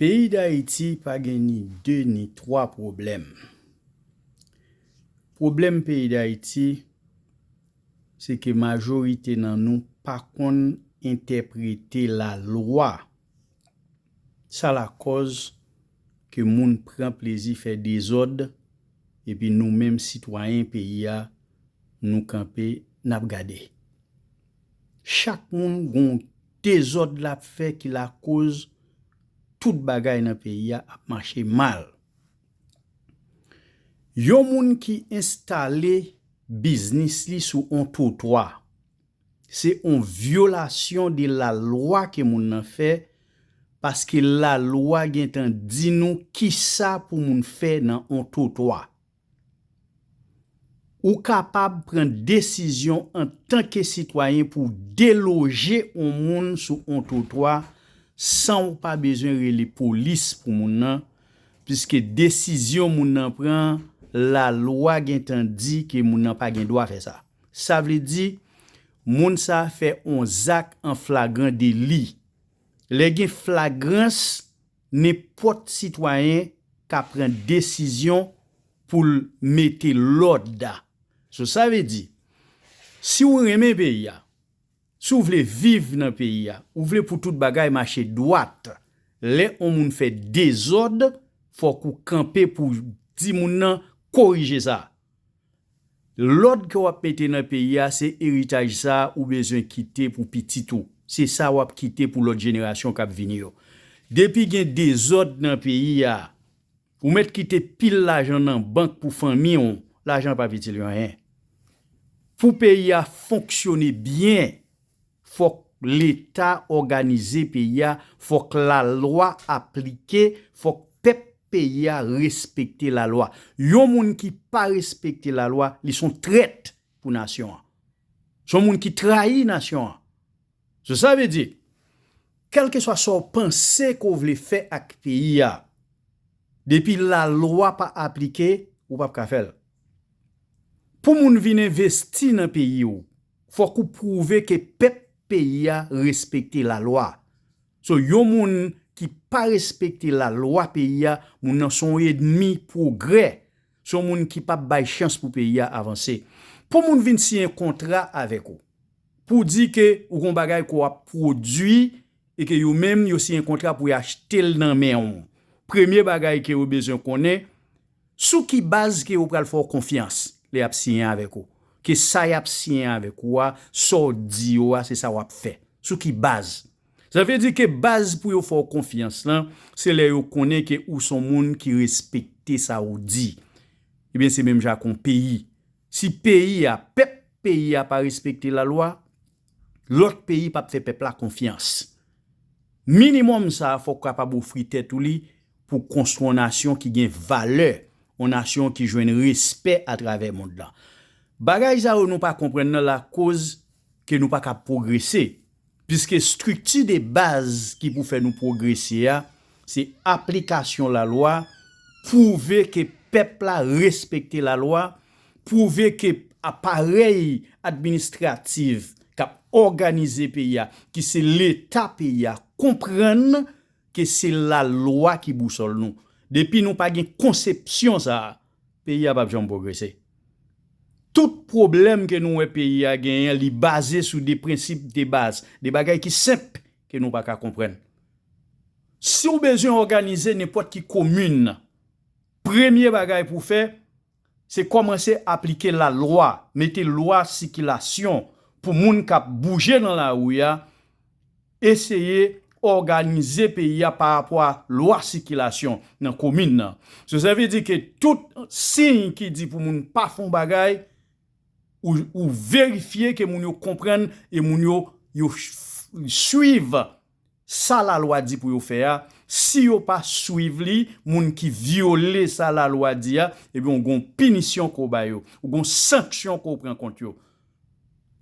Peyi Dayiti pa gen ni 2 ni 3 pwoblèm. Pwoblèm peyi Dayiti se ke majorite nan nou pa konn entèprete lalwa. Sa lakòz ke moun pran plezi fè dezòd epi nou menm sitwayen peyi a nou kanpe n ap gade. Chak moun gon dezòd lap fè ki lakoz tout bagay nan peyi a ap mache mal. Yon moun ki enstale biznis li sou on twotwa, se on vyolasyon de lalwa ke moun nan fè paske lalwa gentan di nou kisa pou moun fè nan on twotwa. Ou kapab pran desizyon antanke sitwayen pou w deloje yon moun sou yon twotwa san w pa bezwen rele polis pou moun nan, piske desizyon moun nan pran an, lalwa gen tan di ke moun nan pa gen dwa fè sa. Sa vle di, moun sa a fè yon zak an flagran deli. Lè gen flagrans, Nenpòt sitwayen ka pran desizyon pou l mete lòd. So sa vle di, si ou renmen peyi a, si ou vle viv nan peyi a, ou vle pou tout bagay mache dwat, lè on moun fè dezòd, fòk ou kanpe pou w di moun nan korije sa. Lòd ke wap mete nan peyi a se eritaj sa ou bezwen kite pou pitit ou, se sa wap kite pou lòt jenerasyon kap vini yo. Depi gen dezòd nan peyi a, ou mèt kite pil lajan nan bank pou fanmi w, lajan pap itil yo anyen. Pou peyi a fonksyone byen, Fòk leta òganize peyi a, fòk lalwa aplike, fòk pèp peyi a respekte lalwa. Yon moun ki pa respekte lalwa, li son trèt pou nasyon an. Son moun ki trayi nasyon an. So sa vle di, kèlkeswa sa w panse ke w vle fè ak peyi a, depi lalwa pa aplike, ou pap ka fè l. Pou moun vin envesti nan peyi w. Fok ou prouve ke pep peyi a respekte la lwa. So yon moun ki pa respekte la lwa peyi a moun nan son edmi progrè, son moun ki pap bay chans pou peyi a avanse. Pou moun vin siyen kontra avek ou, pou di ke ou gon bagay ke w ap prodwi e ke yo menm yo siyen kontra pou y achte l nan men w, premye bagay ke yo bezwen konnen, Sou ki baz ke yo pral fè w konfyans lè yap siyen avèk ou? Ke sa yap siyen avèk ou a, sa w di yo a se sa wap fè? Sou ki baz? Sa vle di ke baz pou yo fè w konfyans lan, se lè yo konnen ke ou son moun ki respekte sa ou di. Ebyen se menm jan ak on peyi. Si peyi a, pèp peyi a pa respekte lalwa, Lòt peyi pap fè pèp la konfyans. Minimòm sa a fò w kapab ofri tèt ou li pou konstwi yon nasyon ki gen valè, yon nasyon ki jwenn respè atravè mond lan. Bagay sa yo nou pa konprann nan lakoz ke nou pa kab pwogrese, piske estrikti de baz ki pou fè nou pwogrese a, se aplikasyon lalwa, pwouve ke pèp la respekte lalwa, pwouve ke aparèy administrativ k ap òganize peyi a, ki se Leta peyi a, konprann ke se lalwa ki bousòl nou. Depi nou pa gen konsepsyon sa a, peyi a pap janm pwogrese. Tout pwoblèm ke nou wè peyi a genyen, li baze sou de prensip de baz, de bagay ki senp ke nou pa ka konprann. Si w bezwen òganize nenpòt ki komin, premye bagay pou w fè, Se kòmanse aplike lalwa, mete lwa sikilasyon pou moun k ap bouje nan lari a, eseye òganize peyi a pa rapò a lwa sikilasyon nan komin nan. Joseph Vy di ke tout siy ki di pou moun pa fè yon bagay, ou verifye ke moun yo konprann e moun yo yo swiv sa lalwa di pou yo fè a, si yo pa swiv li, moun ki vyole sa lalwa di a, ebyen ou gon pinisyon ke w ba yo, ou gon sanksyon ke w pran kont yo.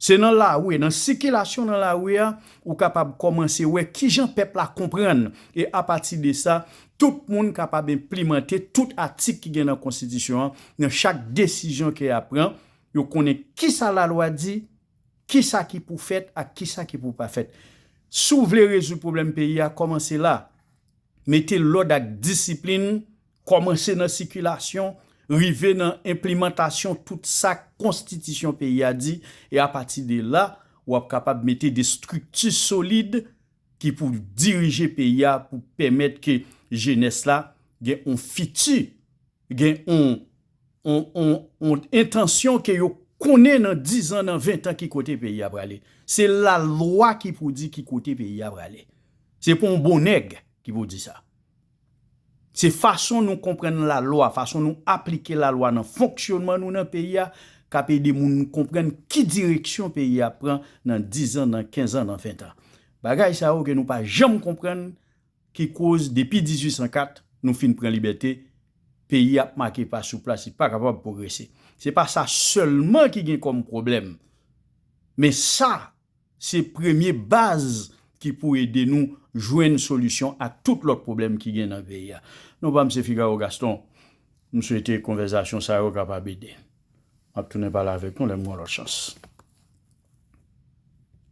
Se nan lari, nan sikilasyon nan lari a, ou kapab kòmanse wè kijan pèp la konprann, e apati de sa, tout moun kapab enplimante tout atik ki gen nan konstitisyon an, nan chak desizyon ke y ap pran, yo konnen kisa lalwa di, Kisa ki pou fèt ak kisa ki pou pa fèt? Si w vle rezoud pwoblèm peyi a, kòmanse la. Mete lòd ak disiplin, kòmanse nan sikilasyon, rive nan enplimantasyon tout sa konstitisyon peyi a di, e apati de la, w ap kapab mete de estrikti solid ki pou dirije peyi a pou pèmèt ke jenès la gen yon fiti Gen on on on on entansyon ke yo konnen nan 10 zan, nan 20 tan ki kote peyi a prale. Se lalwa ki pou di ki kote peyi a prale. Se pa on bon nèg ki pou di sa. Se fason nou konprann lalwa, fason nou aplike lalwa nan fonksyonman nou nan peyi a k ap ede moun konprann ki direksyon peyi a ap pran nan 10 zan, nan 15 zan, nan 20 tan. Bagay sa yo ke nou pa janm konprann Ki koz depi 1804 nou fin pran libète, peyi a ap make pa sou plas li pa kapab pwogrese. Se pa sa sèlman ki gen kòm pwoblèm, men sa se premye baz ki pou ede nou jwenn solisyon ak tout lòt pwoblèm ki gen nan peyi a. Non pa m se Figaro Gaston, m swete konvèzasyon sa yo kapab ede. M ap tounen pale avèk nou lè m gen yon lòt chans.